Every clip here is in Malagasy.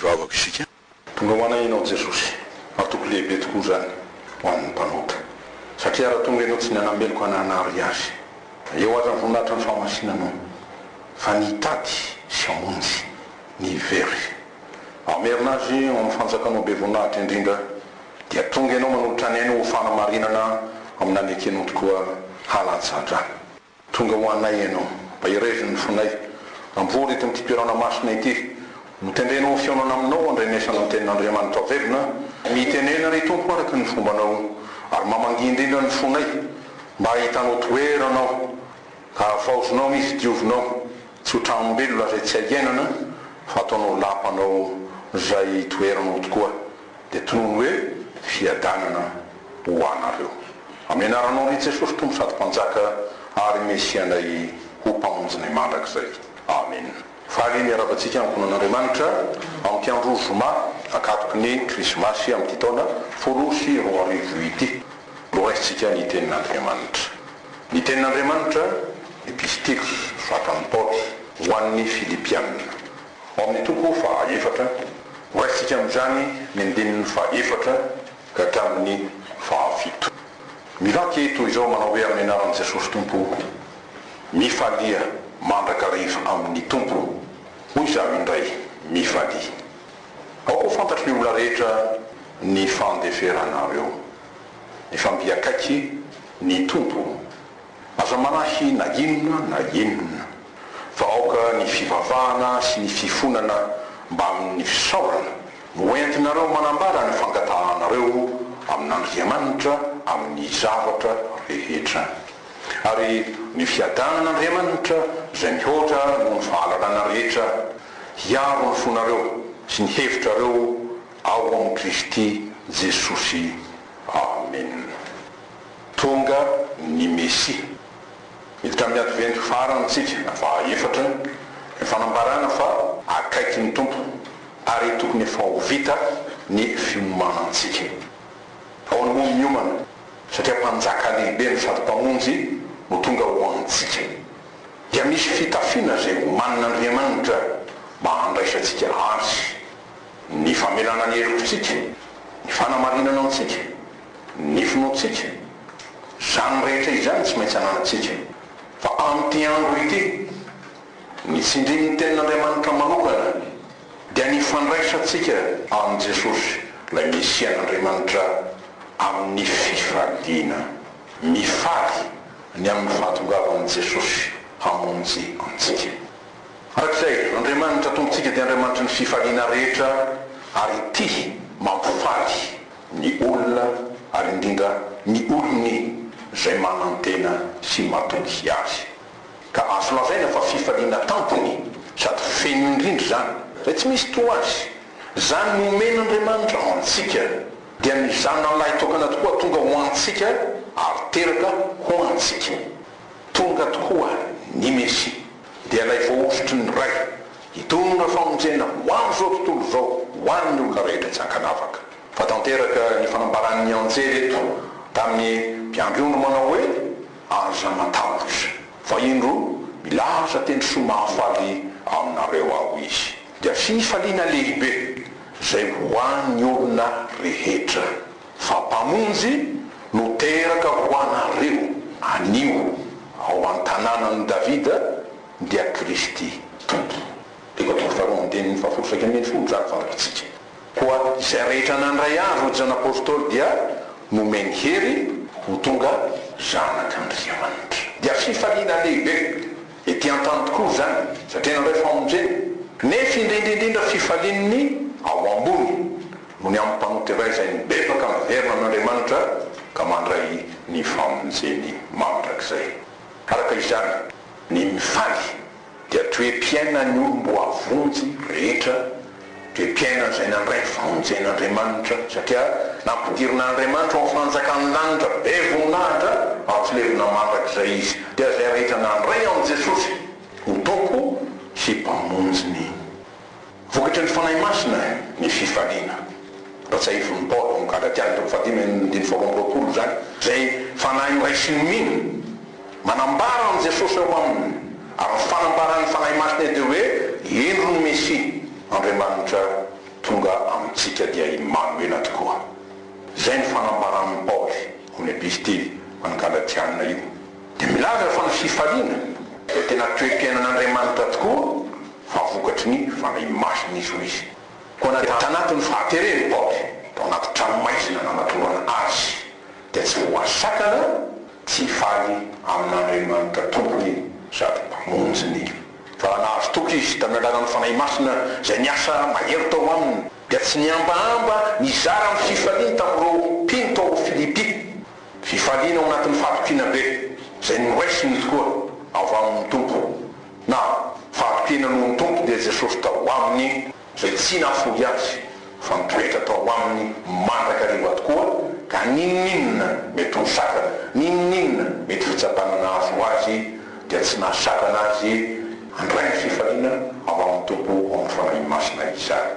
Mivavaka isika. Tonga ho anay Ianao Jesosy. Antoko lehibe tokoa izany ho an'ny mpanota. Satria raha tonga Ianao tsy ny hanameloka na hanary azy. Eo aza ny voninahitran'ny fahamasinanao. Fa ny hitady sy hamonjy ny very. Hamerina azy ao amin'ny fanjakanao be voninahitra indrindra. Dia tonga Ianao manolotra ny ainy ho fanamarinana amin'ny nanekenao tokoa halatsa-drano. Tonga ho anay Ianao, mba hiraizon'ny fonay. Amboary eto amin'ity toerana masina ity. Hotendrenao ho fihaonana aminao handrenesana ny Tenin'Andriamanitra velona, mitenena ry Tompo araka ny fombanao, ary mamangia indrindra ny fonay, mba hahitanao toerana ao, ka havaozinao izy, diovinao, tsy ho tranom-belona izay tsy hay iainana, fa ataonao lapanao izay toeranao tokoa. Dia tonony hoe fiadanana ho anareo. Amena aranao ry Jesosy Tompo sady Mpanjaka ary Mesianay ho Mpamonjinay mandrakizay. Amen. Faly ny hiaravantsika Ankohonan'Andriamanitra amin'ity andro zoma ankatoky ny Krismasy amin'ity taona folo roa sy roa arivo ity. Mbo raisintsika ny Tenin'Andriamanitra. Ny Tenin'Andriamanitra, Epistily nosoratan'i Paoly ho an'ny Filipiana. Ao amin'ny toko faha efatra, horaisintsika amin'izany ny andininy faha efatra ka hatramin'ny faha fito. Mivaky toy izao manao hoe amin'ny anaran'i Jesosy Tompo o, Mifalia mandrakariva amin'ny Tompo, hoy izaho indray, mifalia. Aoka ho fantatry ny olona rehetra ny fandeferanareo. Mifamby akaiky ny Tompo. Aza manahy na inona na inona fa aoka ny fivavahana sy ny fifonana mbamin'ny fisaorana no entinareo manambara ny fangatahanareo amin'Andriamanitra amin'ny zavatra rehetra. Ary ny fiadanan'Andriamanitra izay mihoatra noho ny fahalalana rehetra hiaro ny fonareo sy ny hevitrareo ao amin'i Kristy Jesosy. Amena. Tonga ny Mesia. Hita amin'ny Adventy farantsika, na faha efatra, ny fanambarana fa akaiky ny Tompo ary tokony efa ho vita ny fiomanantsika. Ahoana moa ny miomana, satria Mpanjaka lehibe no sady Mpamonjy no tonga ho antsika. Dia misy fitafiana izay omanin'Andriamanitra mba handraisantsika Azy, ny famelana ny helokintsika, ny fanamarinana antsika, Ny finoantsika, izany rehetra izany tsy maintsy ananantsika. Fa amin'ity andro ity, ny tsindrin'ny Tenin'Andriamanitra manokana, dia ny fandraisantsika an'i Jesosy, ilay Mesian'Andriamanitra amin'ny fifaliana, mifaly ny amin'ny fahatongavan'i Jesosy hamonjy antsika. Araka izay, Andriamanitra Tompontsika dia Andriamanitry ny fifaliana rehetra ary tia, mampifaly ny olona ary indrindra ny olony izay manantena sy matoky Azy. Ka azo lazaina fa fifaliana tampony sady feno indrindra izany, izay tsy misy toa azy. Izany nomen'Andriamanitra antsika dia ny Zanany lahitokana tokoa tonga ho antsika ary teraka ho antsika. Tonga tokoa ny Mesia. dia ilay voahosotry ny Ray, hitondra famonjena ho amin'izao tontolo izao ho an'ny olona rehetra tsy ankanavaka. Fa tanteraka ny fanambaran'ny anjely eto tamin'ny mpiandry ondry manao hoe, Aza matahotra, fa indro, milaza teny soa mahafaly aminareo Aho Izy. Dia fifaliana lehibe izay ho an'ny olona rehetra. Fa Mpamonjy no teraka ho anareo. Anio, ao an-tanànan'i Davida, dia Kristy Tompo. Tiko atolotro faharoa amin'ny teniny fahafolo sy iraika ambin'ny folo izany fantatsika. Koa izay rehetra nandray azy ho Zan'Apostoly dia nomeny hery ho tonga zanak'Andriamanitra. Dia fifaliana lehibe ety an-tany tokoa izany, satria nandray famonjena. Nefa indrindra indrindra fifalian'ny ao ambony. no ny amin'ny mpanota iray izay mibebaka miverina amin'Andriamanitra ka mandray ny famonjeny mandrakizay. Araka izany, ny mifaly dia toe-piainan'ny olom-boavonjy rehetra, toe-piainan'izay nandray ny famonjen'Andriamanitra satria nampidirina an'Andriamanitra ao amin'ny fanjakan'ny lanitra be voninahitra atsilevina mandrakizay izy, dia izay rehetra nandray an'i Jesosy ho Tompo sy Mpamonjiny Vokatry ny Fanahy Masina ny fifaliana. Notsahivin'i Paoly ao amin'ny Galatia andininy telo fahadimy andininy faharoa amby roapolo izany, izay fanahy noraisin'ny mino. Manambara an'i Jesosy ao aminy, ary ny fanambaran'ny Fanahy Masina dia hoe indro ny Mesia, Andriamanitra tonga amintsika dia Imanoela tokoa. Izay ny fanambaran'i Paoly ao amin'ny epistily ho an'ny Galatiana io. dia milaza fa ny fifaliana dia tena toe-piainan'Andriamanitra tokoa fa vokatry ny Fanahy Masina izy, hoy izy, koa na dia tanatin'ny fahatereny i Paoly tao anaty tranomaizina nanatonana azy dia tsy voa sakana tsy hifaly amin'Andriamanitra Tompony sady Mpamonjiny, fa raha nahazo toky izy tamin'ny alalan'ny Fanahy Masina izay niasa mahery tao aminy dia tsy nihambahamba nizara ny fifaliany tamin'ireo mpino tao Filipy Fifaliana ao anatin'ny fahatokiana be izay noraisiny tokoa avy amin'ny Tompo, na fahatokiana noho ny Tompo dia Jesosy tao aminy izay tsy nahafoy azy fa nitoetra tao aminy mandrakariva tokoa ka n'inon'inona mety ho sakana, n'inon'inona mety fitsapana nahazo azy dia tsy nahasakana azy handray ny fifaliana avy amin'ny Tompo ao amin'ny Fanahy Masina izany.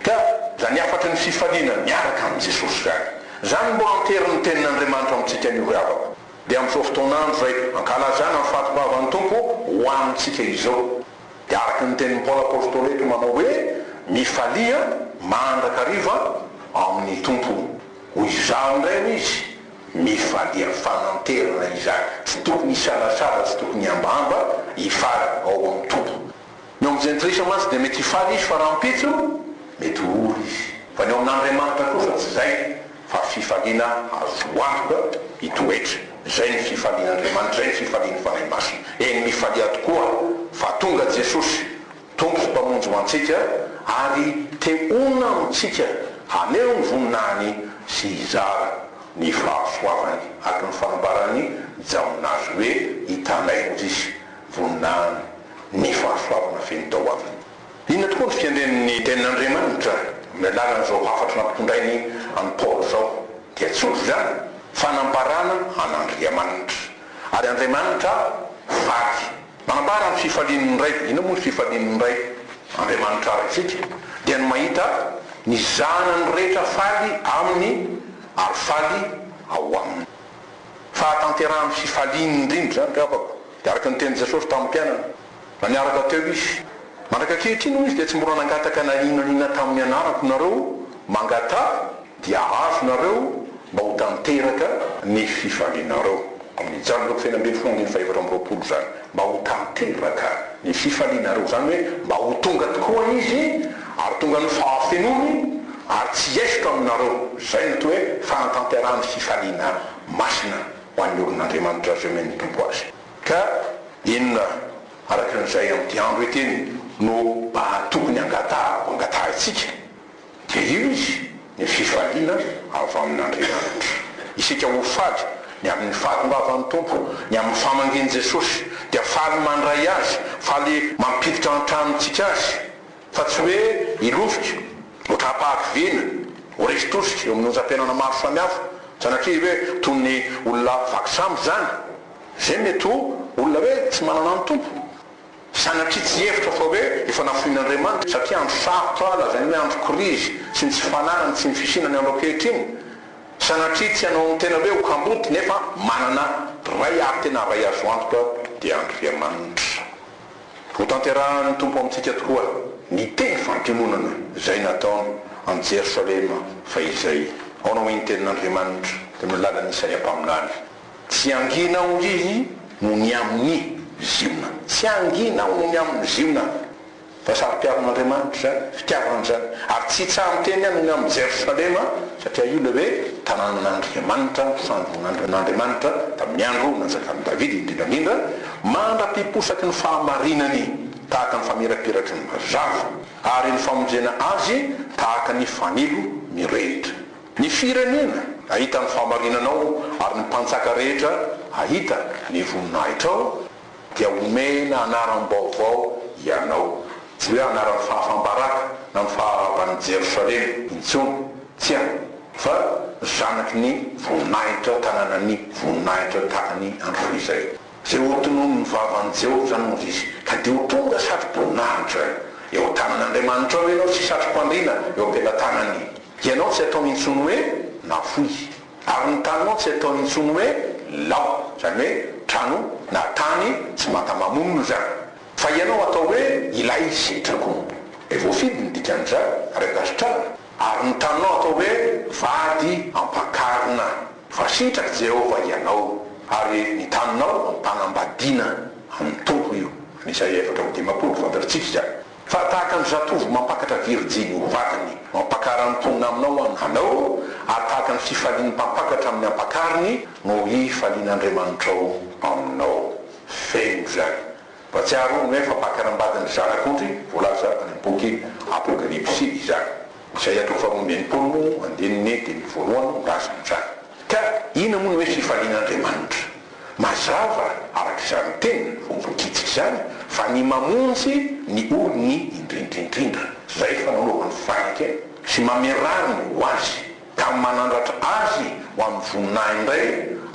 Ka zany hafatry ny fifaliana miaraka amin'i Jesosy zany. Zany mbo anterin'ny tenin'Andriamanitra amintsika anio ry havako. Dia amin'izao fotoan'andro izay ankalazana ny fatibavan'ny Tompo ho amintsika izao. Dia araka ny tenin'i Paoly Apostoly eto manao hoe mifalia mandrakariva amin'ny Tompo. Hoy izaho indray hoy izy, mifalia fananterana izany. Tsy tokony hisalasala, tsy tokony hambahamba hifaly ao amin'ny Tompo. Ny eo amin'ny jentilisa mantsy dia mety hifaly izy fa rahampitso mety ho ora izy. Fa ny eo amin'Andriamanitra kosa tsy izay fa fifaliana azo antoka hitoetra. Izay ny fifalian'Andriamanitra, izay ny fifalian'ny Fanahy Masina. Eny mifalia tokoa fa tonga Jesosy, Tompo sy Mpamonjy ho antsika ary te honina amintsika haneho ny voninahiny sy hizara ny fahasoavany. Araka ny fanambaran'i Jaona azy hoe hitanay hozy izy, voninahiny ny fahasoavana feno tao aminy. Inona tokoa no fiandrian'ny Tenin'Andriamanitra amin'ny alalan'izao hafatra nampitondrainy an'i Paoly izao? Dia tsotra izany, fanambarana an'Andriamanitra. Ary Andriamanitra faly. Manambara ny fifalian'ny Ray. Inona moa ny fifalian'ny Ray Andriamanitra Raintsika? Dia ny mahita ny zanany rehetra faly aminy ary faly ao aminy. Fahatanterahan'ny fifaliany indrindra izany, ry havako, dia araka ny tenin'i Jesosy tamin'ny mpianany, na niaraka teo Izy. Mandraka ankehitriny, hoy Izy, dia tsy mbola nangataka na inona na inona tamin'ny anarako nareo, mangataha, dia hahazo nareo, mba ho tanteraka ny fifalianareo. Amin'ny Jan. Lok. Feno ambin'ny folo andininy fahaefatra amby roapolo izany. mba ho tanteraka ny fifalianareo, izany hoe mba ho tonga tokoa Izy ary tonga ny fahafenoany ary tsy hiesotra aminareo. Izay no atao hoe fanatanterahan'ny fifaliana masina ho an'ny olon'Andriamanitra izay omen'ny Tompo azy. Ka inona araka an'izay amin'ity andro ity no tokony hangatahako hangatahintsika? Dia io izy, ny fifaliana avy amin' Andriamanitra. Isika ho faly ny amin' ny fahatongavan' ny Tompo, ny amin' ny famangian' i Jesosy, dia faly mandray Azy, faly mampiditra an tranontsika Azy, fa tsy hoe hilovika, hotrapahariviana, ho resy tosika eo amin' ny onjam-piainana maro samihafa, sanatria hoe toy ny olona vaky sambo izany, izay mety ho olona hoe tsy manana ny Tompo. Sanatria tsy hihevitra fa hoe efa nafoin'Andriamanitra satria andro sarotra, lazainy hoe andro krizy sy ny tsy fananany sy ny fisiana ny andro ankehitriny. Sanatria tsy hanao ny tena hoe ho kamboty nefa manana Ray ary tena Ray azo antoka dia Andriamanitra. Hotanterahin'ny Tompo amintsika tokoa ny teny fampiononana izay nataony an'i Jerosalema fahizay. Aona hoy ny tenin'Andriamanitra tamin'ny alalan'i Isaia mpaminany. Tsy angina hoy izy noho ny amin'ny Ziona. Tsy angina aho noho ny amin'ny Ziona, fa saro-piaron'Andriamanitra izany, fitiavana izany. Ary tsy tsaha-miteny aho noho ny amin'i Jerosalema, satria io ilay hoe tanànan'Andriamanitra, fandroan'Andriamanitra tamin'ny andro nanjakan'i Davida, indrindra indrindra, mandra-piposaky ny fahamarinany tahaka ny famirapiraky ny mazava, ary ny famonjena azy tahaka ny fanilo mirehitra. Ny firenena hahita ny fahamarinanao ary ny mpanjaka rehetra hahita ny voninahitrao, dia homena anaram-baovao ianao, tsy hoe anaran'ny fahafam-baraka na ny faharavan'i Jerosalema intsony, tsia, fa zanaky ny voninahitra, tananan'ny voninahitra tany andro fahizay. Izay hotononin'ny vavan'i Jehovah izany no hisy, ka dia ho tonga satroboninahitra eo an-tanan'Andriamanitrao ianao sy satrompandriana eo am-pelatanan'i Ianao tsy ataony intsony hoe nafoy. Ary ny taninao tsy ataony intsony hoe lao. Izany hoe trano na tany tsy mata-mamonina izany. Fa ianao atao hoe ilay setrako. Dia voafidy ny dikan'izany, ary ankasitrahana. Ary ny taninao atao hoe vady ampakarina. Fa sitrak'i Jehovah ianao. Ary ny taninao ampanambadiana amin'ny Tompo io. Any Isaia efatra amby dimampolo, fantatsika izany. Fa tahaka ny zatovo mampakatra virijiny ho vadiny, mampakara ny mponina aminao an, anao, ary tahaka ny fifalian'ny mpampakatra amin'ny ampakariny no hifalian' Andriamanitrao aminao. Feno izany. Mba tsy aharoa ny hoe fampakaram-badin'ny Zanak'ondry voalaza any amin'ny boky Apokalypsy izany. Isaia toko faharoa amby enimpolo moa, andininy dimy amby voalohany no milaza an'izany. Ka inona moa ny hoe fifalian' Andriamanitra? Mazava araka izany tena voavikitika izany fa ny mamonjy ny olony indrindraindrindra izay fanaovany faika sy mamerany ho azy ka manandratra azy ho amin'ny voninahiny indray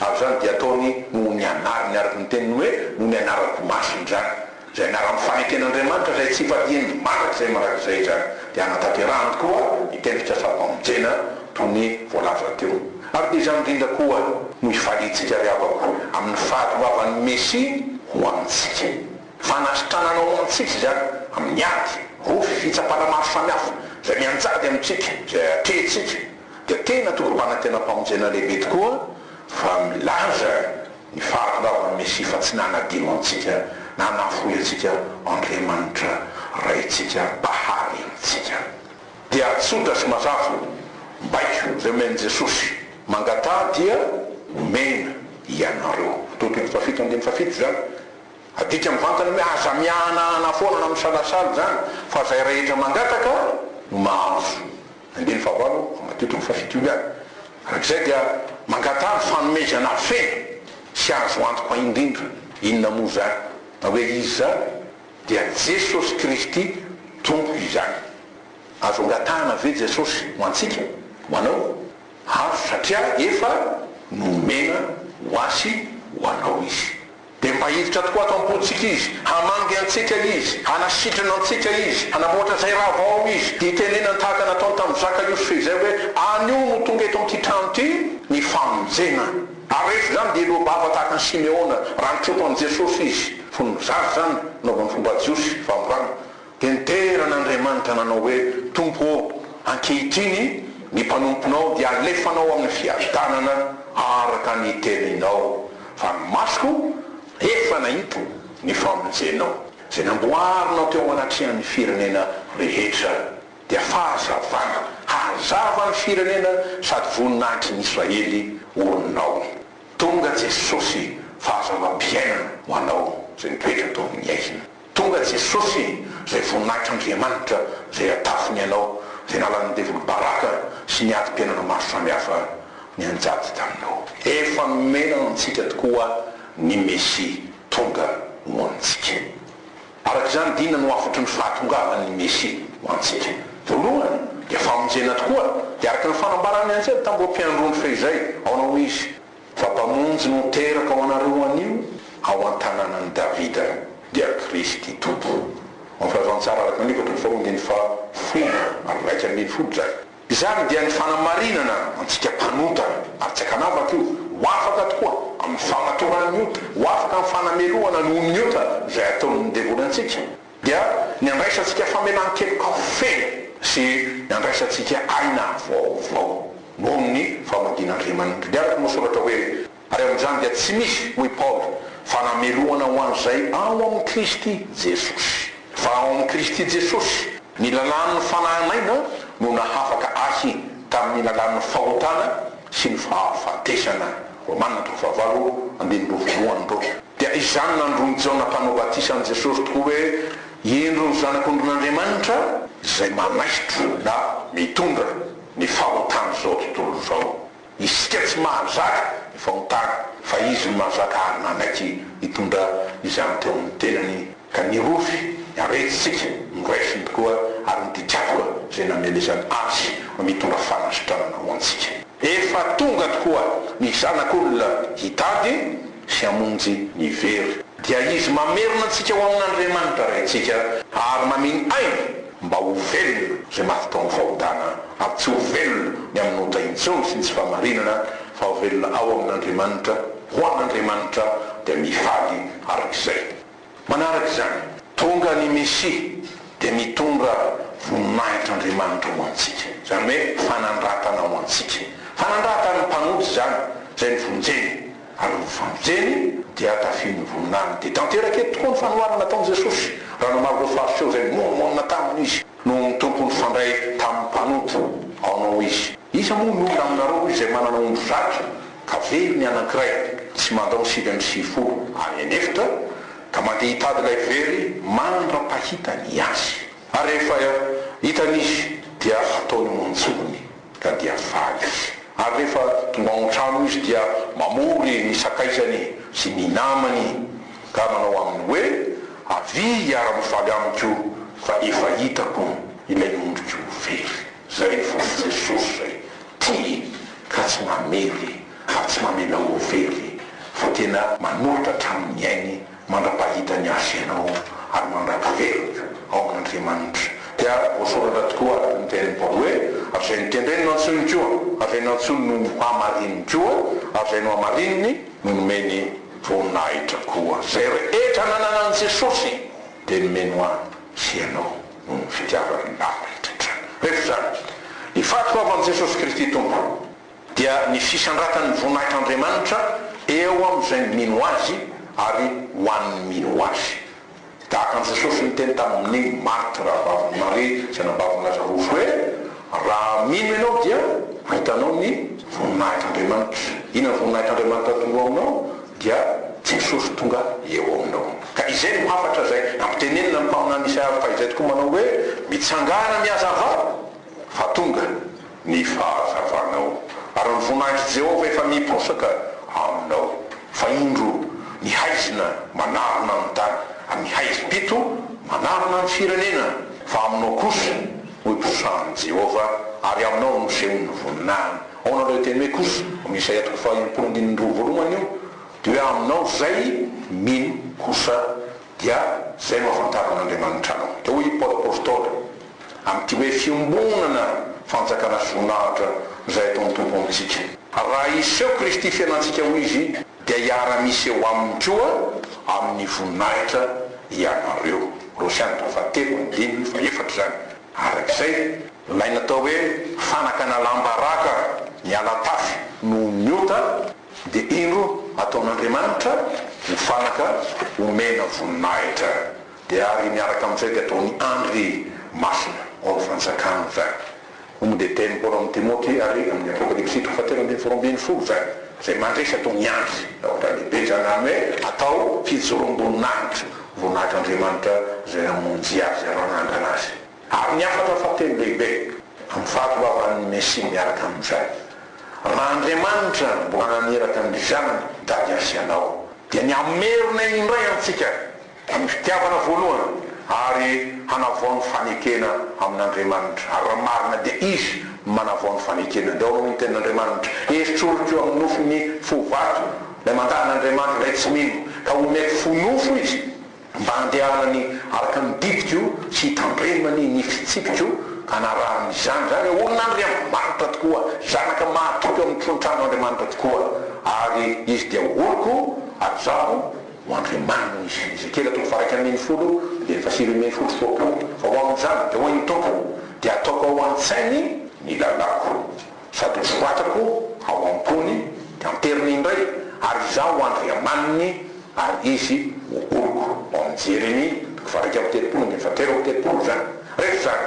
ary izany dia ataony noho ny anarany araka ny teniny hoe noho ny anarako masina izany Izay niharan'ny faneken'Andriamanitra izay tsy ivadiany mandrakizay mandrakizay izany, dia hanatanterahany koa ny tenim-pitsasaram-pamonjena toy ny voalaza teo. Ary dia izany indrindra koa no hifaliantsika ry havako, amin'ny fahatongavan'ny Mesia ho amintsika. Fanasitranana ho antsika izany amin'ny ady, roa fitsapana maro samihafa izay mianjady amintsika, izay atrehintsika. Dia tena tokim-panantenam-pamonjena lehibe tokoa fa milaza. Ny fahatongavan'i Mesia fa tsy nanadino antsika na nahafoy antsika Andriamanitra Raintsika mpahary antsika. Dia tsotra sy mazava, baiko izay omen'i Jesosy, mangataha dia homena ianareo. Teo Tito fahafito andininy fahafito izany. Adika mivantana hoe aza miahanahana foana na misalasala izany fa izay rehetra mangataka no mahazo. Andininy fahavalo amby telo amby fahafito io ihany, arak'izay dia mangataha ny fanomezana feno sy azo antoka indrindra. Inona moa izany? Na hoe iza izany dia Jesosy Kristy Tompo izany. Azo angatahana ve Jesosy ho antsika, ho anao? Azo satria efa nomena ho ahy sy ho anao Izy. Dia mba hiditra tokoa ato am-pontsika Izy, hamangy antsika Izy, hanasitrana antsika Izy, hanamboatra izay raha vao ao Izy, dia hitenenany tahaka nataony tamin'i Zaka Yousf izay hoe, Anio no tonga eto amin'ity trano ity ny famonjena. Ary rehefa izany dia hiloa bava tahaka an'i Simeona, raha nitropy an'i Jesosy izy, fony zaza izany, nanaovany fomba jiosy, famborana. Dia nidera an'Andriamanitra nanao hoe, Tompo ô, ankehitriny ny mpanomponao dia alefanao amin'ny fiavitanana araka ny teninao, fa ny masoko efa nahita ny famonjenao, izay namboarinao teo anatrehan'ny firenena rehetra, dia fahazavana hazava ny firenena sady voninahitry ny Israely orinao. Tonga Jesosy, fahazavam-piainana ho anao izay mipetra eto amin'ny ainy. Tonga Jesosy izay voninahitr'Andriamanitra izay atafiny ianao, izay nalan'ny devoly baraka sy ny adim-piainana maro samihafa nianjady taminao. Efa nomena antsika tokoa ny Mesia tonga ho antsika. Araka izany dina no hafatry ny fahatongavan'ny Mesia ho antsika. Voalohany dia famonjena tokoa, dia araka ny fanambaran'ny anjely tamin'ireo mpiandrony fehizay, aona hoy izy? Fa Mpamonjy no teraka ho anareo anio ao an-tanànan'i Davida, dia Kristy Tompo. Ao amin'ny Filazantsara araka ny Luka, toko faharoa, andininy fahafolo ary iraika ambin'ny folo, izany. Izany dia ny fanamarinana antsika mpanota, ary tsy an-kanavaka io, ho afaka tokoa amin'ny famatoran'ny ota, ho afaka amin'ny fanamelohana noho ny ota izay ataon'ny devoly antsika. dia ny handraisantsika famelan-keloka feno sy ny handraisantsika aina vaovao noho ny famadin'Andriamanitra. Dia araka ny voasoratra hoe, Ary amin'izany dia tsy misy, hoy Paoly, fanamelohana ho an'izay ao amin'i Kristy Jesosy. Fa ao amin'i Kristy Jesosy, ny lalàn'ny fanahy naina no nahafaka ahy tamin'ny lalàn'ny fahotana sy ny fahafatesana. Romana toko fahavalo, andininy roa voalohany, ro. Dia izany nandron'i Jaona Mpanao Batisa an'i Jesosy tokoa hoe, Indro ny Zanak'ondrin'Andriamanitra izay manaitro na mitondra ny fahotan'izao tontolo izao. Isika tsy mahazaka ny fahotana, fa Izy no mahazaka ary nanaiky nitondra izany teo amin'ny tenany. Ka nirovy ny aretintsika, noraisin'ny roa ary ny didiavona izay namelezany azy no mitondra fanasitranana ho antsika. Efa tonga tokoa ny Zanak'olona hitady sy hamonjy ny very. Dia Izy mamerina antsika ho amin'Andriamanitra Raintsika ary mameno aina mba ho velona izay maty tao amin'ny fahotana, ary tsy ho velona ny amin'ny ota intsony sy ny tsy fahamarinana, fa ho velona ao amin'Andriamanitra, ho an'Andriamanitra dia mifaly arak'izay. Manaraka izany, tonga ny Mesia dia mitondra voninahitr'Andriamanitra ho antsika, izany hoe fanandratana ho antsika. Fanandratan'ny mpanota izany izay novonjeny, ary ny novonjeny dia tafian'ny voninahiny. Dia tanteraka eto tokoa ny fanoharana nataon'i Jesosy, raha namaly ireo Fariseo izay nimonomonona taminy izy noho ny Tompo nifandray tamin'ny mpanota, Ao anao izy. Iza moa ny olona aminareo, hoy izay manana omby zato, ka very ny anankiray tsy mandao sivy amby sivifolo any an'efitra ka mandeha hitady ilay very mandra-pahita ny azy ary rehefa hitany izy dia ataony ao an-tsofiny ka dia faly izy ary rehefa tonga ao an-trano izy dia mamory ny sakaizany sy ny namany ka manao aminy hoe avia hiara-mifaly amiko fa efa hitako ilay ondriko very. Zay vao i Jesosy zay, tia ka tsy mamely ary tsy mamela ho very fa tena manolotra hatramin'ny ainy mandra-pahitany azy ianao ary mandra-piveriny ao amin'Andriamanitra. Dia voasoratra tokoa araka ny tenin'i Paoly hoe, ary izay notendreny no antsonony koa, ary izay nantsony no hamarininy koa, ary izay nohamarininy no nomeny voninahitra koa. Zay rehetra nanana an'i Jesosy dia nomeny ho ahy. sy ianao noho ny fitiavany maro indrindra. Rehefa izany, ny fahatongavan'i Jesosy Kristy Tompo dia ny fisandratan'ny voninahitr'Andriamanitra eo amin'izay mino Azy ary ho an'ny mino Azy. Tahaka an'i Jesosy niteny tamin'i Marta rahavaviny Maria izay nambavin'i Lazarosy hoe, Raha mino ianao dia hitanao ny voninahitr'Andriamanitra. Inona ny voninahitr'Andriamanitra atoloanao? dia Jesosy tonga eo aminao. Ka izay no hafatra izay ampitenenina ny mpaminany Isaia avy fahizay tokoa manao hoe, Mitsangàna mihazavà, fa tonga ny fahazavanao, ary ny voninahitr'i Jehovah efa miposaka aminao. Fa indro, ny haizina manarona ny tany, ary ny haizim-pito manarona ny firenena, fa aminao kosa no iposahan'i Jehovah, ary aminao no nosehony ny voninahiny. Aona ilay teny hoe kosa? Amin'ny Isaia toko fahaimpolo andininy roa voalohany io dia hoe aminao izay mino kosa dia izay no ahafantaran'Andriamanitra anao. Dia hoy i Paoly Apostoly amin'ity hoe fiombonana fanjakana sy voninahitra izay ataon'ny Tompo amintsika. Raha hiseho Kristy fiainantsika hoy izy dia hiara-miseho aminy koa amin'ny voninahitra ianareo. Kolosiana toko fahatelo andininy fahefatra izany. Araka izay, ilay natao hoe fanakana lamba raka miala tafo noho ny ota dia indro ataon'Andriamanitra ho fanaka omena voninahitra, dia ary miaraka amin'izay dia ataony andry masina ao amin'ny fanjakany izany. Omg dia dieny Paoly amin'i Timoty ary amin'ny Apokalypsy toko fahatelo ambin'ny folo ambin'ny folo izany izay mandresy ataony andry, raha ohatra lehibe izany, izany hoe atao fijoroam-boninahitra. Voninahitran'Andriamanitra izay namonjy azy ary nanangana azy. Ary ny hafatra fahatelo lehibe, amin'ny fahatongavan'ny Mesia miaraka amin'izay. Raha Andriamanitra no mbola naniraka ny Zanany hitady ahy sy anao, dia ny hamerina indray amintsika ny fitiavana voalohany ary hanavao ny fanekena amin'Andriamanitra. Ary raha marina dia Izy no manavao ny fanekena. Dia ao amin'ny tenin'Andriamanitra, Esoriko amin'ny nofy ny fo vato. Ilay mankahala Andriamanitra indray tsy mino ka omeko fo nofo izy mba handehanany araka ny didiko sy hitandremany ny fitsipiko ka hanarahany izany. Izany hoe olona Andriamanitra tokoa, zanaka mahatoky ao amin'ny tron-trano Andriamanitra tokoa ary izy dia oloko ary izaho ho Andriamaniny izy. Ezekiela toko faha iraika ambin'ny folo andininy faha sivy ambin'ny folo Foko aho fa ho amin'izany dia hoy ny Tompo dia ataoko ao an-tsainy ny lalàko. Sady nosoratako ao am-pony, dia amperiny indray, ary izaho ho andry amaniny, ary izy ho oloko. Ao amin'ny Jeremia, toko fahairaika amby telopolo, andininy fahatelo amby telopolo izany. Rehefa izany,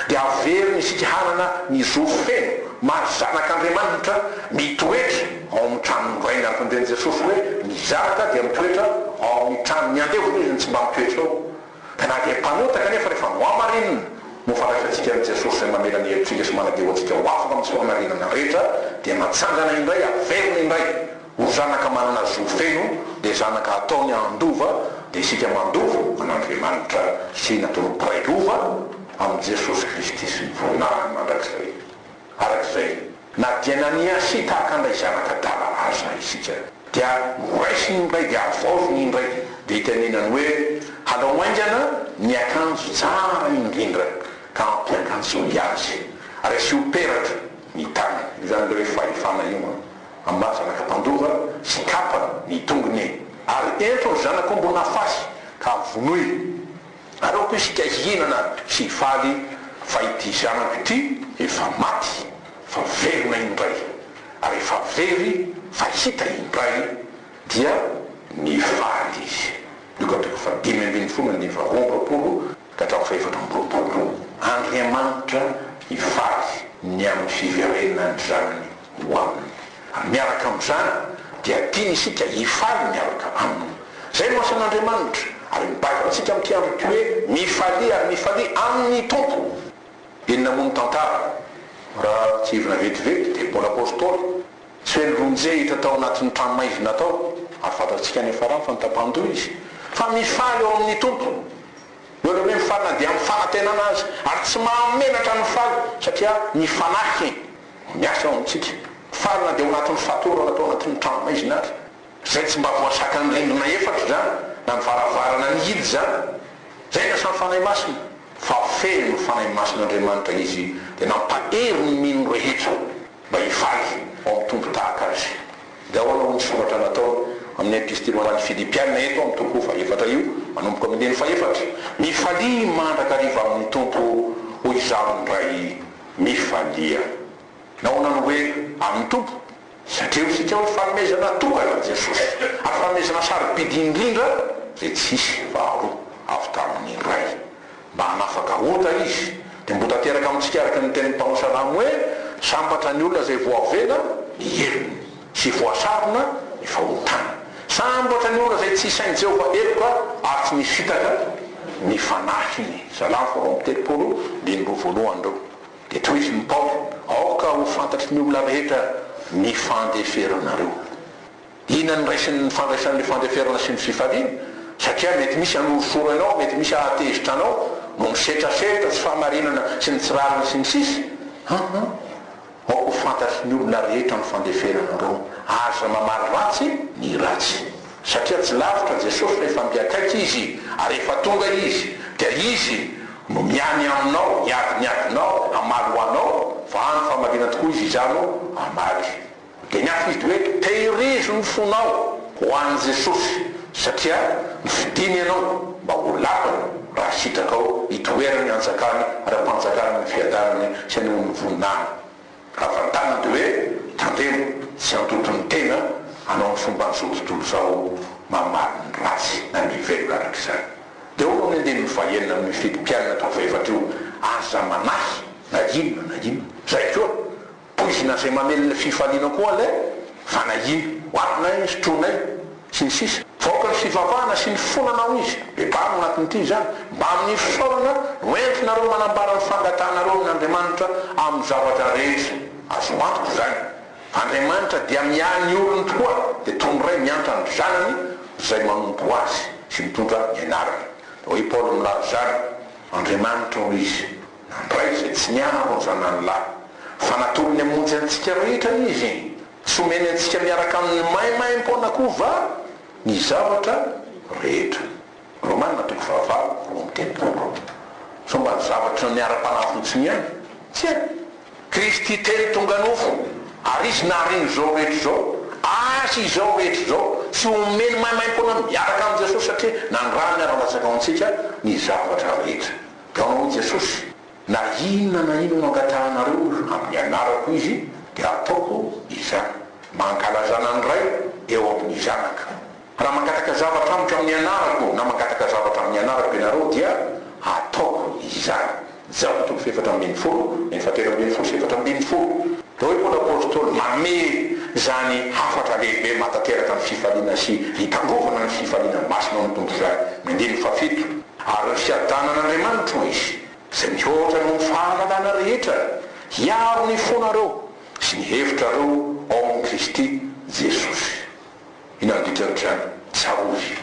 dia averiny isika hanana ny zo feno maha zanak'Andriamanitra, mitoetra ao amin'ny tranon'ny Rainy ary tandreny Jesosy hoe, Ny zanaka dia mitoetra ao amin'ny tranony, andevo hono izy no tsy mba mitoetra ao. Na dia mpanotaka anefa, rehefa nohamarinina, nofandraisantsika amin'i Jesosy izay mamela ny helotsika sy manadio antsika ho afaka amin'ny soamarinana rehetra, dia matsangana indray, averina indray ho zanaka manana zo feno, dia zanaka hataony handova, dia isika mandova an'Andriamanitra sy natoloboraiko ho va? amin'i Jesosy Kristy sy ny voninahiny mandrakizay. Araka izay, na dia naniahy sy tahaka handray zavatra adala aza isika, dia noraisiny indray dia havaoziny indray, dia itenenany hoe, Halao haingana ny akanjo tsara indrindra, ka ampiakanjoy azy, ary asio peratra ny tanany. Io izany ilay hoe fahefana io an! Ambara laka-pandova sy kapa ny tongony, ary ento ny zanak'ombin'afasy, ka vonoy. Aleoko isika hihinana sy hifaly fa ity zanako ity efa maty fa velona indray, ary efa very fa hita indray dia nifaly izy. Luka toko fahadimy ambin'ny folo andininy faharoa amby roapolo ka hatramin'ny fahefatra amby roapolo. Andriamanitra hifaly ny amin'ny fiverenan'ny Zanany. ho aminy. Ary miaraka amin'izany dia tiany isika hifaly miaraka aminy. Izay no asan'Andriamanitra, ary mibata antsika amin'ity andro ity hoe, Mifalia ary mifalia amin'ny Tompo! Inona moa ny tantara? Raha tsiahivina vetivety dia Paoly Apostoly, tsy hoe nilonjy hita tao anatin'ny tranomaizina tao, ary fantatsika any Afarany fa nitapan-doha izy, fa mifaly ao amin'ny Tompo. Eo ilay hoe mifaly na dia amin'ny fanantenana aza, ary tsy mahamenatra ny faly satria ny fanahy. Miasa ao amintsika. Faly na dia ao anatin'ny fatorana atao anatin'ny trano maizina ary, izay tsy mba voasakan'ny rindrina efatra izany, na ny varavarana mihidy izany. Izay ny asan'ny Fanahy Masina. Fa feno ny Fanahy Masin'Andriamanitra Izy, dia nampahery ny mino rehetra mba hifaly ao amin'ny Tompo tahaka Azy. Dia ahoana hoy ny soratra nataony amin'ny Epistily ho an'ny Filipiana eto amin'ny toko fahefatra io, manomboka amin'ny andininy fahefatra, Mifalia mandrakariva amin'ny Tompo, hoy izaho indray mifaliana. Nahoana no hoe amin'ny Tompo? Satria ho isika amin'ny fanomezana tokana an'i Jesosy, ary fanomezana sarobidy indrindra izay tsy hisy faharoa, avy tamin'ny Ray. Mba hanafaka ota Izy, dia mbo tanteraka amintsika araka ny tenin'ny mpanao salamo hoe, Sambatra ny olona izay voavela ny helony. Tsy voasarona ny fahotana. Samy ohatra ny olona izay tsy isain'i Jehovah heloka ary tsy misy fitaka ny fanahiny. Zalahy faharoa amby telopolo, andininy roa voalohany ireo. Dia tohizin'i Paoly, Aoka ho fantatry ny olona rehetra ny fandeferanareo. Inona no raisiny ny fandraisana ny fandeferana sy ny fifaliana? Satria mety misy hanorosoro anao, mety misy hahatezitra anao, no misetrasetra, tsy fahamarinana sy ny tsy rariny, sy ny sisa. Hum-hum. Aoka ho fantatry ny olona rehetra ny fandeferana anareo, aza mamaly ratsy ny ratsy. Satria tsy lavitra Jesosy fa efa miakaiky Izy ary efa tonga Izy, dia Izy no miany aminao, hiady ny adinao, hamaly ho anao, fa any famaliana tokoa Izy izany no hamaly. Dia ny hafa Izy dia hoe, Tehirizo ny fonao ho an'i Jesosy. satria nofidiny ianao mba ho lakana raha sitrakao hitoerana ny hanjakany ara-panjakana ny fiadanany sy ny onin'ny voninahiny. Havantanana dia hoe tandremo tsy handoto ny tena hanao ny fomban'izao tontolo izao mamaly ny ratsy na ny velona araka izany. Dia hono ny andininy fahenina amin'ny fidim-piainana tao fahefatr' io, aza manahy na inona na inona. Izay koa. Poizina izay mamely ny fifaliana koa ilay fanahiana. Ho avinay ny sotroinay, sy ny sisa Fa aoka ny fivavahana sy ny fonana hoy izy. Bebaro ao anatin'ity izany. Mbamin'ny fisaorana no entinareo manambara ny fangatahanareo amin'Andriamanitra amin'ny zavatra rehetra. Azo antoka izany. Andriamanitra dia miahy ny olony tokoa, dia toy ny ray miantra ny zanany izay manompo azy sy mitondra ny anarany. Hoy i Paoly milaza izany. Andriamanitra hoy izy. Nandray izay tsy niaro ny zanany lahy, fa natolony hamonjy antsika rehetra Izy. Tsy omeny antsika miaraka aminy maimaim-poana koa va ny zavatra rehetra? Romana toko fahavalo, roa amby telopolo. Sao mba ny zavatra niara-panahy fotsiny ihany? Tsia. Kristy telo tonga nofo, ary Izy nahariana izao rehetra izao, azy izao rehetra izao. Tsy omeny maimaim-poana miaraka amin'i Jesosy satria nandrany ara-latsaka ho antsika ny zavatra rehetra. Dia hoy Jesosy, Na inona na inona angatahanareo amin'ny anarako izy, dia hataoko izany, mba hankalazana ny Ray eo amin'ny Zanaka. Raha mangataka zavatra amiko amin'ny anarako, na mangataka zavatra amin'ny anarako ianareo, dia hataoko izany. Jaona toko fahefatra ambin'ny folo, andininy fahatelo ambin'ny folo sy efatra ambin'ny folo. Dia hoy Paoly Apostoly, Manome izany hafatra lehibe mahatanteraka ny fifaliana sy hitandrovana ny fifaliana masina ao amin'ny Tompo izany, ny andininy fahafito. Ary ny fiadanan'Andriamanitro hoy izy, izay mihoatra noho ny fahalalana rehetra, hiaro ny fonareo sy ny hevitrareo ao amin'i Kristy Jesosy. Inona no dikan'izany? Tsarovy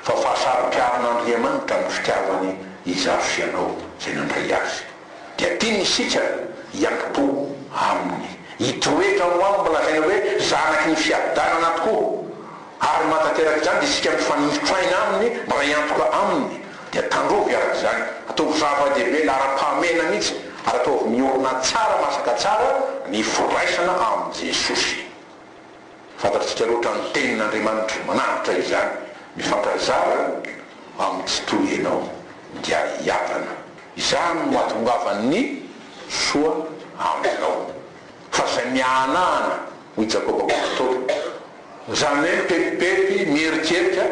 fa fahasaro-piaron'Andriamanitra amin'ny fitiavany izaho sy ianao izay nandray Azy. Dia tiany isika hiankipo Aminy, hitoetra ao Aminy mba lazaina hoe zanaky ny fiadanana tokoa. Ary maha tanteraka izany dia isika mifanojotra aina aminy mba raha hiantoka aminy dia tandrovy araka izany, ataovy zava-dehibe laharam-pahamehana mihitsy ary ataovy miorina tsara masaka tsara ny firaisana amin'i Jesosy. Fantatr'tsika loatra ny tenin'Andriamanitra manavotra izany, mifankazara amin'ny tsy toy ianao dia hiadana. Izany no hahatongavan'ny soa aminao. Fa izay miahanahana. hoy Jakoba koa matory. Izany hoe mipetipety, mieritreritra,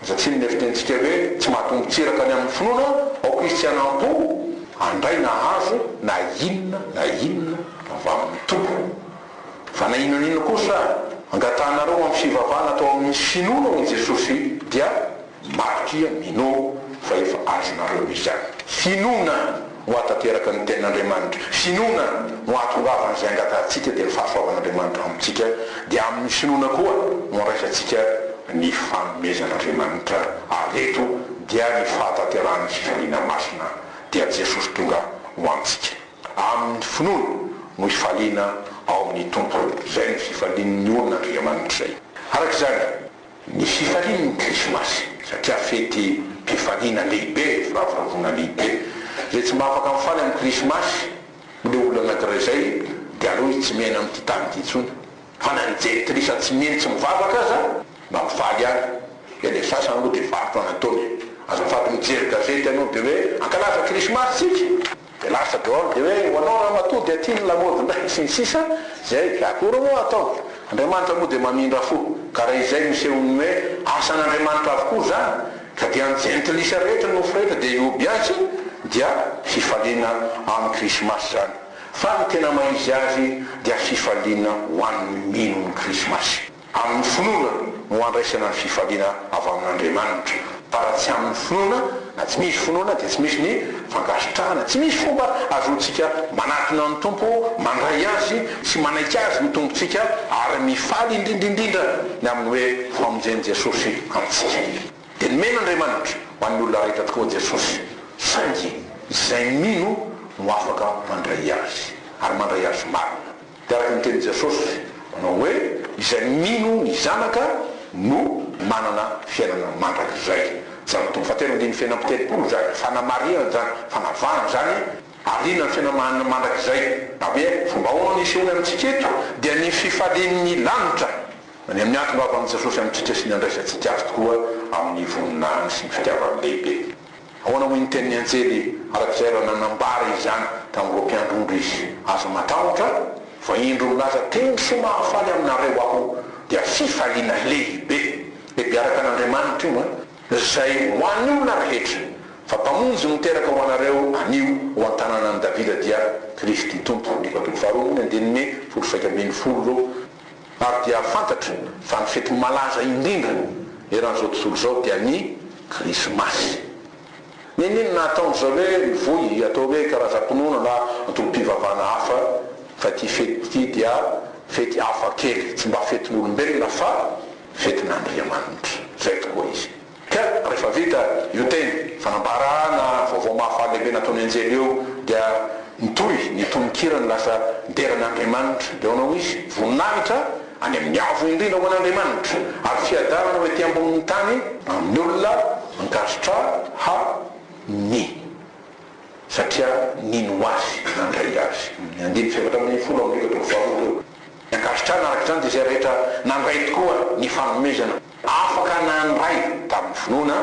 aza tsy inona fitenintsika hoe tsy mahatombo tsiraka ny amin'ny finoana ao kristianam-po, handray na hahazo na inona na inona avy amin'ny Tompo. Fa na inona na inona kosa angatahanareo amin'ny fivavahana atao amin'ny finoana hoy Jesosy dia. Marika, mino fa efa azonareo izany. Finoana no hahatanteraka ny tenin'Andriamanitra. Finoana no hahatongavana izay angatahantsika dia ny fahasoavan'Andriamanitra ao amintsika, dia amin'ny finoana koa no andraisantsika ny fanomezan'Andriamanitra ary eto dia ny fahatanterahan'ny fifaliana masina dia Jesosy tonga ho antsika. Amin'ny finoana no hifaliana ao amin'ny Tompo. Izay no fifalian'ny olona Andriamanitra izay. Araka izany. Ny fifaliany ny krismasy satria fety pifaliana lehibe, firavoravoana lehibe. Izay tsy mba afaka mifaly amin'ny krismasy ho le olona anankiray izay dia aleo izy tsy miaina amin'ity tany ity intsony. Fa na ny jentilisa tsy mihaino tsy mivavaka aza mba mifaly any. Dia ilay sasany moa dia varotra no ataony e. Azafady mijery gazety ianao dia hoe hankalaza krismasy tsika. Dia lasa daholo dia hoe ho anao ramatoa dia aty ny lamaody indray sy ny sisa izay ka akory moa atao. Andriamanitra moa dia mamindra fo ka raha izay no isehon'ny hoe asan'Andriamanitra avokoa izany ka dia ny jentilisa rehetra nofo rehetra dia hihobiantsy dia fifaliana amin'ny krismasy izany fa ny tena mahizy azy dia fifaliana ho an'ny mino ny krismasy. Amin'ny finoana no andraisana ny fifaliana avy amin'Andriamanitra. Fa raha tsy amin'ny finoana, na tsy misy finoana, dia tsy misy ny fankasitrahana. Tsy misy fomba ahazoantsika manatona ny Tompo, mandray Azy, sy manaiky Azy ho Tompontsika, ary mifaly indrindraindrindra ny amin'ny hoe famonjen'i Jesosy antsika. Dia nomena Andriamanitra ho an'ny olona rehetra tokoa Jesosy, saingy izay mino no afaka mandray Azy, ary mandray Azy marina. Dia araka ny tenin'i Jesosy nanao hoe, Izay mino ny Zanaka no manana fiainana mandrakizay. Jerao ny toko fahatelo andininy fahefany amby telopolo izany fanamarihana izany, fanavahana izany alinan'ny fiainana mandrakizay. Na hoe fomba ahoana no hisehoany amintsika eto, dia ny fifalian'ny lanitra any amin'ny hatongavan'i Jesosy amintsika sy ny handraisantsika Azy tokoa amin'ny voninahiny sy ny fitiavany lehibe. Ahoana hoy ny tenin'ny anjely arak'izay raha nanambara izany tamin'ireo mpiandry ondry izy, Aza matahotra, fa indro milaza teny soa mahafaly aminareo aho, dia fifaliana lehibe, e mpiaraka an'Andriamanitra io an, izay ho an'ny olona rehetra, fa Mpamonjy miteraka ho anareo anio ho an-tananan'i Davida dia Kristy Tompo, Andiko toko faharoa ambin'ny andininy folo sy iraika ambin'ny folo. ary dia fantatra fa ny fety malaza indrindra eran'izao tontolo izao dia ny Krismasy. Nenino nahatonga izao hoe mivoy atao hoe karazam-pinoana na antokom-pivavahana hafa fa ity fety ity dia fety hafa kely, tsy mba fetin'olombelona fa fetin'Andriamanitra. Izay tokoa izy. Ka rehefa vita io teny fanambarana vaovao mahafaly lehibe nataon'ny anjely eo dia nitohy ny tononkira ny lasa dera an'Andriamanitra dia hoanao misy voninahitra any amin'ny avo indrindra ho an'Andriamanitra ary fiadanana ho ety ambonin'ny tany amin'ny olona ankasitrà ha ny satria nino ho azy nandray azy ny andiny fahefatra ambin'ny folo ao amin'ny Biblia toko faharoa teo ny ankasitrana araka izany dia izay rehetra nandray tokoa ny fanomezana. Afaka nandray tamin'ny finoana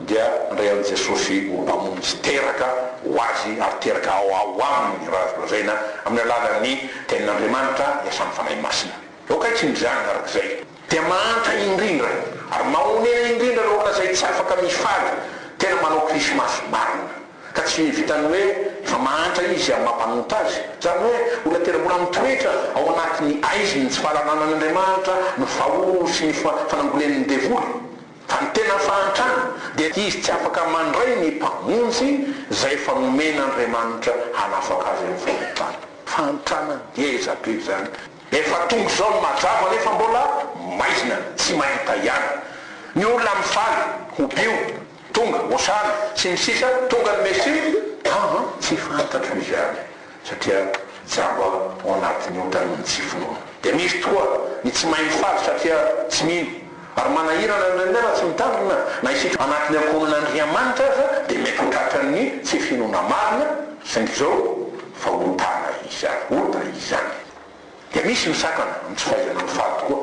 dia nandray an'i Jesosy ho mpamonjy sy teraka ho Azy ary teraka ao ao Aminy raha azo lazaina amin'ny alalan'ny Tenin'Andriamanitra hiasa amin'ny Fanahy Masina. Eo akaikiny izany araka izay dia mahantra indrindra ary mahonena indrindra raha olona izay tsy afaka mifaly tena manao Krismasy marina. ka tsy vitan'ny hoe efa mahantra izy amin'ny maha mpanonta azy. Izany hoe olona tena mbola mitoetra ao anatin'ny haiziny tsy fahalalànan'Andriamanitra no fahono sy ny fanangolen'ny devoly. Fa ny tena fahantrana dia izy tsy afaka mandray ny Mpamonjy izay efa nomen'Andriamanitra hanafaka azy amin'ny fahotany. Fahantrana ngeza be izany! Efa tonga izao ny mazava nefa mbola maizina, tsy mahita ihany ny olona mifaly ho bio. Tonga, osanna, sy ny sisa Tonga ny Mesia? Aho an, tsy fantatro izany, satria jamba aho ao anatin'ny ondan'ny tsy finoana. Dia misy tokoa ny tsy mahay mifaly satria tsy mino, ary manahirana ny renirano tsy mitandrina, na isika ao anatin'ny ankohonan'Andriamanitra aza dia mety ho tratran'ny tsy finoana marina, saingy izao fa ontana izany, ota izany. Dia misy ny sakana amin'ny tsy fahaizana mifaly tokoa.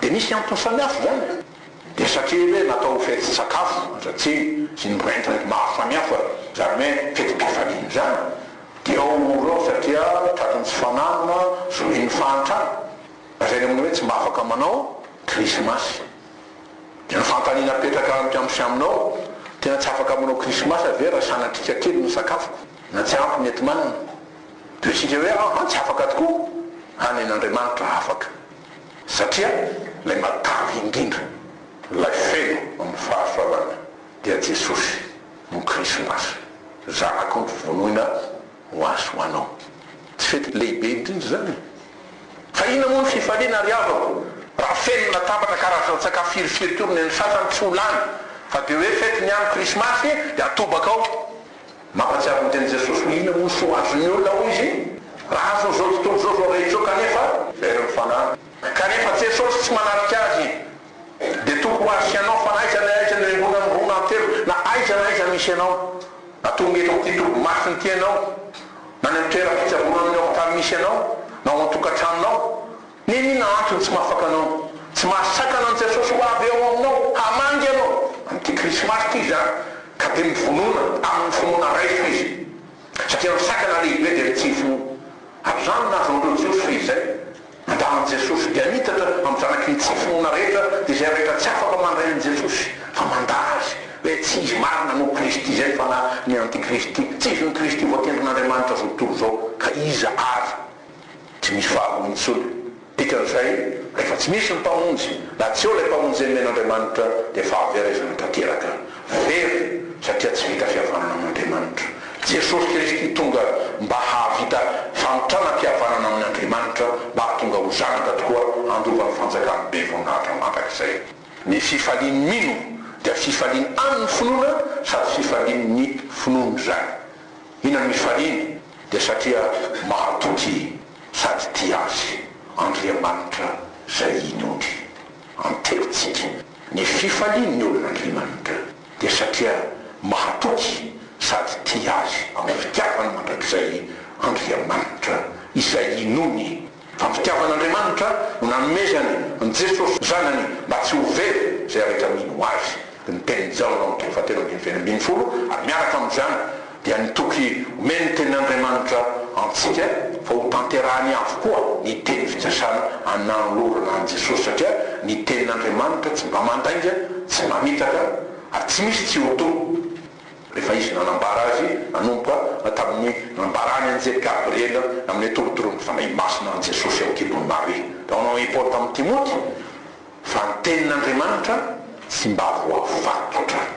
Dia misy antony samihafa izany. Dia satria ve natao ho fety sakafo andratsiny sy ny rent-rent maro samihafa izany hoe fety be vahiny izany dia ao mora ao satria tratran'ny tsy fananana, zohin'ny fahantrana. Lazaina amin'ny hoe tsy mba afaka manao krismasy. Dia ny fanontaniana apetraka amiko amin'sy aminao, tena tsy afaka manao krismasy ve raha sanatriaka kely ny sakafoko na tsy ampy ny enti-manana? Toy isika hoe aho an tsy afaka tokoa, hany an'Andriamanitra afaka. Satria ilay matavy indrindra, ilay feno amin'ny fahasoavana dia Jesosy no Krismasy, Zanako novonoina ho azy ho anao. Tsy fety lehibe indrindra izany? Fa inona moa ny fifaliana ry havako raha feno ny latabatra, karazan-tsakafo firifiry koa ny an'ny sasany tsy ho lany, fa dia hoe fetiny ihany Krismasy dia atobaka ao. Mampahatsiaro ny tenin'i Jesosy hoe inona moa ny soa azon'ny olona hoy izy, raha azony izao tontolo izao, izao rehetra izao kanefa very ny fanahy. Kanefa Jesosy tsy manatrika azy dia toky ho azy sy anao fa aiza na aiza no embona ny rona antelo na aiza na aiza misy anao na tonga eto amin'ity dobo masina ity ianao na any amin'ny toeram-pitsaboana amin'ny hopitaly misy anao na ao an-tokantranonao Nenina antso ny tsy mahafaka anao, tsy mahasakana an'i Jesosy ho avy ao aminao hamangy anao amin'ity krismasy ity izany ka dia mivonona amin'ny finoana raiso izy satria ny sakana lehibe dia ny tsy hifinoa. Amin'izany nahazo an'ireo Jiosy fehizay nandamin'i Jesosy dia niitatra amin'ny zanaky ny tsy finoana rehetra izay rehetra tsy afaka mandray an'i Jesosy fa mandà azy hoe tsy izy marina no Kristy izay fa na ny antikristy tsy izy no Kristy voatendrin'Andriamanitra zao tontolo izao ka iza ary Tsy misy faharoa intsony. Dikan'izay, rehefa tsy misy ny Mpamonjy, na tsy eo ilay Mpamonjy nomen'Andriamanitra, dia fahaverezana tanteraka. Very, satria tsy vita fihavanana amin'Andriamanitra. Jesosy Kristy tonga mba hahavita fanotranam-pihavanana amin'Andriamanitra, mba hahatonga ho zanaka tokoa handova ny fanjakan'ny Be Voninahitra mandrakizay. Ny fifalian'ny mino dia fifalian an'ny finoana sady fifalian'ny finoana izany. Hihinana ny fahiny dia satria mahatoky sady tia azy Andriamanitra izay inondry an-tsaintsika. Ny fifalian' ny olon' Andriamanitra dia satria mahatoky sady tia azy amin' ny fitiavany mandrakizay Andriamanitra izay inoany. Fa fitiavan'Andriamanitra no nanomezany an'i Jesosy Zanany mba tsy ho very izay rehetra mino ho Azy. Dia ny tenin'i Jaona ao amin'ny toko fahatelo ambin'ny fito ambin'ny folo ary miaraka amin'izany dia ny toky omeny ny tenin'Andriamanitra antsika fa ho tanterahany avokoa ny teny fikasana ananolorana an'i Jesosy satria ny tenin'Andriamanitra tsy mba mandainga, tsy mamitaka ary tsy misy tsy ho to. Rehefa izy nanambara azy nanomboka tamin'ny nambarany anjely Gabriela amin'ny atorotoron'ny Fanahy Masina an'i Jesosy eo an-kibon'i Maria. Naonao i Paoly tamin'i Timoty fa ny tenin'Andriamanitra tsy mba voavy vato hatrany,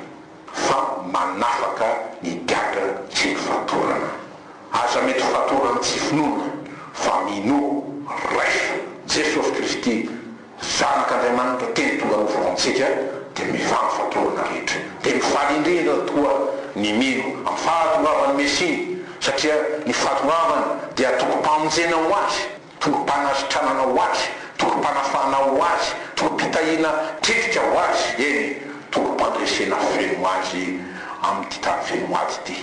fa manafaka ny gadra tsy mifatorana. Aza mety ho fatorany tsy finoana, fa minoa, raiso, Jesosy Kristy Zanak' Andriamanitra teny tonga nofo ho antsika dia mivangy fatorana rehetra dia mifaly indrindra tokoa ny mino amin'ny fahatongavan'ny Mesia satria ny fahatongavany dia tokom-pamonjena ho azy, tokom-panasitranana ho azy, tokom-panafahana ho azy, tokom-pitahiana tetika ho azy, eny, tokom-pandresena feno ho azy amin'ity tany feno ady ity.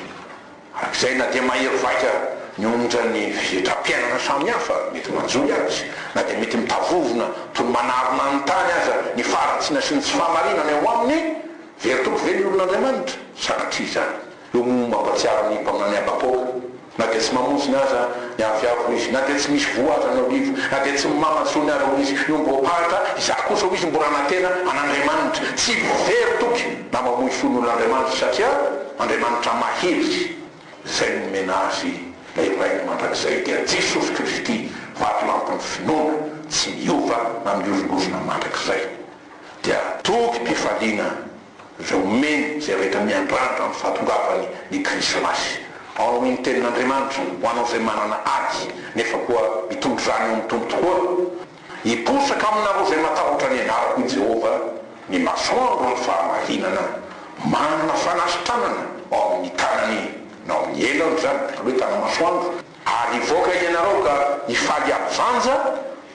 Hatrizay na dia mahery vaika ny onja ny fihetram-piainana samihafa mety manjohy azy, na dia mety mitavovona toy ny manarona ny tany aza ny faharatsiana sy ny tsy fahamarinana eo aminy, very toky ve ny olon'Andriamanitra? Sanatria izany. Io moa mampahatsiaro ny mpaminany Habakoka, Na dia tsy mamonjina aza ny avy avo hoy izy, na dia tsy misy voa aza ny olivo, na dia tsy mimama tsony aza hoy izy, ny omby voaparitra, izaho kosa hoy izy mbola nanantena an'Andriamanitra. Tsy very toky na mamoy fo ny olon'Andriamanitra satria. Andriamanitra mahery izay nomena azy ilay Rainy mandrakizay dia Jesosy Kristy vatolampin'ny finoana tsy miova na mihorongorona mandrakizay dia tobim-pifaliana izay omeny izay rehetra miandrandra ny fahatongavany ny krismasy ao noho ny tenin'Andriamanitra ho anao izay manana ady nefa koa mitondra izany ho mitombo tokoa Hiposaka aminareo izay matahotra ny anarako, hoy Jehovah, ny masoandro ny fahamarinana, manana fanasitranana ao amin'ny tanany na ao amin'ny elany izany firoetana masoandro, ary hivoaka ianareo ka hifaly havanja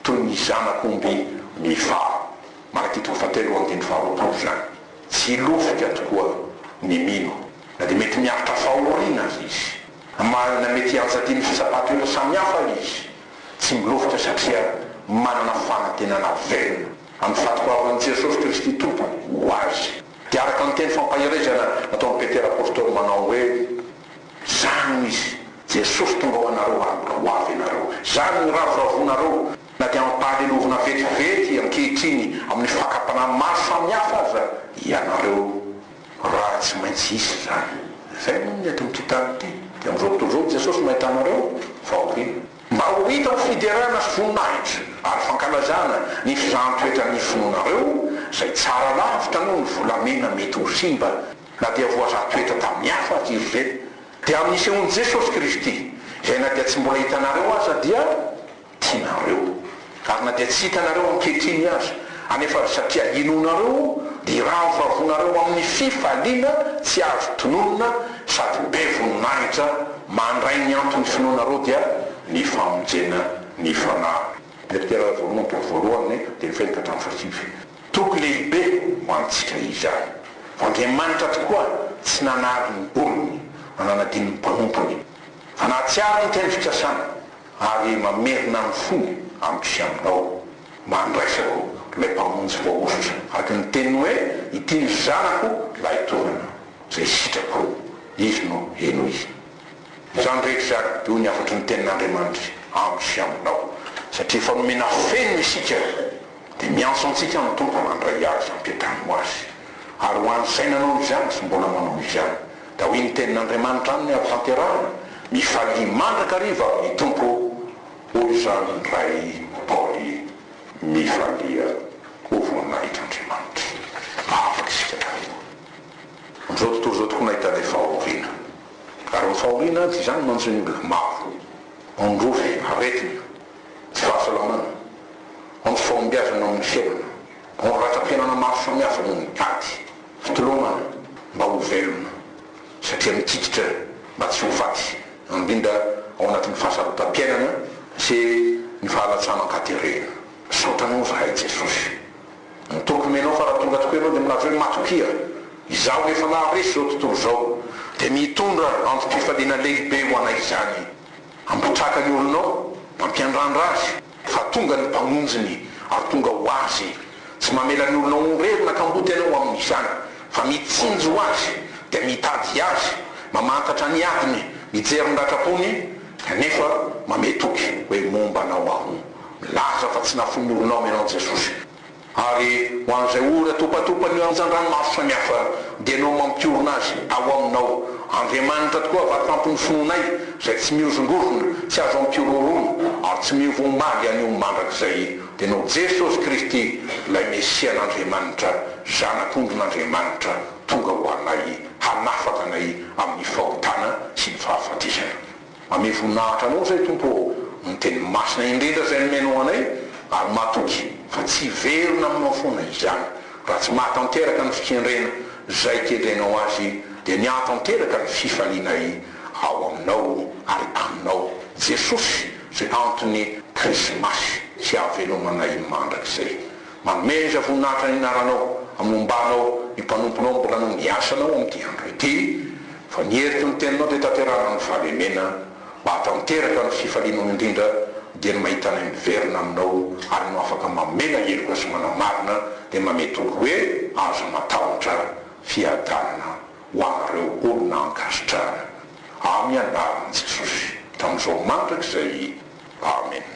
toy ny zanak'omby mifaho. Malaki toko fahatelo andininy faharoapolo izany. Tsy hilofika tokoa ny mino, na dia mety miaritra fahoriana aza izy, na mety hiantsadia ny fitsapan-toetra samihafa izy. Tsy milovitra satria manana fanantenana velona amin'ny fatohavan'i Jesosy Kristy Tompo ho azy. Dia araka ny teny fampaherezana nataon'i Petera Apostoly manao hoe, Izany no izy, Jesosy tonga ho anareo ary mbola ho avy ianareo. Izany no iravoravoanareo na dia ampahalelovina vetivety ankehitriny amin'ny fakam-panahy maro samihafa aza ianareo. Raha tsy maintsy hisy izany. Izay moa ny eto amin'ity tany ity, dia amin'izao tontolo izao i Jesosy no ahitanareo fahoriana. Mba ho hita ho fiderana sy voninahitra ary fankalazana ny fizahan-toetran'ny finoanareo izay tsara lavitra noho ny volamena mety ho simba na dia voazaha toetra tamin'ny hafa aza izy ireny, dia amin'ny nisehoan'i Jesosy Kristy, izay na dia tsy mbola hitanareo aza dia. tianareo, ary na dia tsy hitanareo ankehitriny aza, anefa ry satria inoanareo dia iravoravoanareo amin'ny fifaliana tsy azo tononina sady be voninahitra mandray ny anton'ny finoanareo dia ny famonjena ny fanahy. Petera voalohany toko voalohany telo fito ka hatramin'ny fahasivy. Toko lehibe ho antsika izany, fa Andriamanitra tokoa tsy nanary ny olony na nanadino ny mpanompony, fa nahatsiaro ny teny fikasana ary mamerina ny fony amiko sy aminao, mba handraisako ilay Mpamonjy voahosotra, araka ny teniny hoe, Ity ny Zanako lahitoanana, izay sitrako, Izy no henoy. Izany rehetra izany dia hoy ny hafatry ny tenin'Andriamanitra amiko sy aminao, satria efa nomena fenina isika, dia miantso antsika ny Tompo handray azy hampiantrano azy. Ary ho an'izay nanao izany sy mbola manao izany, Ka hoy ny tenin'Andriamanitra aminy avy hanterahana, Mifalia mandrakariva amin'ny Tompo, hoy izany Ray Paoly. Mifalia ho voninahitr'Andriamanitra. Afaka isika taloha. Amin'izao tontolo izao tokony hahita ilay fahoriana. Ary ny fahoriana dia izany manjo ny olona maro. Ondrofe, aretina, tsy fahasalamana, anto-fahombiazana amin'ny fiainana. Ao ratam-piainana maro samihafa no mitady fitolomana mba ho velona, satria mikikitra mba tsy ho faty, indrindra ao anatin'ny fahasarotam-piainana sy ny fahalatsana an-katerena. Misaotra anao zahay Jesosy. Ny toky menao fa raha tonga tokoa ianao dia milaza hoe matokia. Izaho rehefa naharesy izao tontolo izao dia mitondra antom-pifaliana lehibe ho anay izany. Ampitraka ny olonao mampiandrandra azy. Fa tonga ny Mpamonjiny ary tonga ho Azy. Tsy mamela ny olona horery na kamboty Ianao amin'izany, fa mitsinjo ho Azy, dia mitady Azy, mamantatra ny adiny, mijery ny ratram-pony, kanefa mamehy toky hoe momba Anao aho. Milaza fa tsy nafoin'ny olona ao Ianao Jesosy. Ary ho an'izay ora topatopan'io anjan-drano maro samihafa, dia Ianao no mampiorina azy ao Aminao. Andriamanitra tokoa vatoampin'ny finoanay, izay tsy mihozongozona, tsy azo ampihorohoroana, ary tsy miova omaly anio mandrakizay. Dia Ianao Jesosy Kristy, ilay Mesian'Andriamanitra, Zanak'ondrin'Andriamanitra, tonga ho anay, hanafaka anay amin'ny fahotana sy ny fahafatesana. Amea voninahitra Anao izay Tompo ô, ny Teny Masina indrindra izay nomenao anay, ary matoky fa tsy hiverina aminao foana izany, raha tsy maha tanteraka ny fikendrena izay kendrenao azy dia miaha tanteraka ny fifalianay ao Aminao ary Aminao Jesosy izay antony Krismasy sy havelomanay mandrakizay. Manomeza voninahitra ny Anaranao, amombanao ny mpanomponao mbola nony asanao amin'ity andro ity, Fa ny heriky ny teninao dia tanterahana amin'ny fahalemena, mba hahatanteraka ny fifalianao indrindra, dia ny mahita anay miverina aminao, ary anao afaka mamela heloka sy manamarina, dia manome toky hoe azo matahotra fiadanana ho anareo olona ankasitrahana amin'ny anaran'i Jesosy tamin'izao mandrakizay. Amena.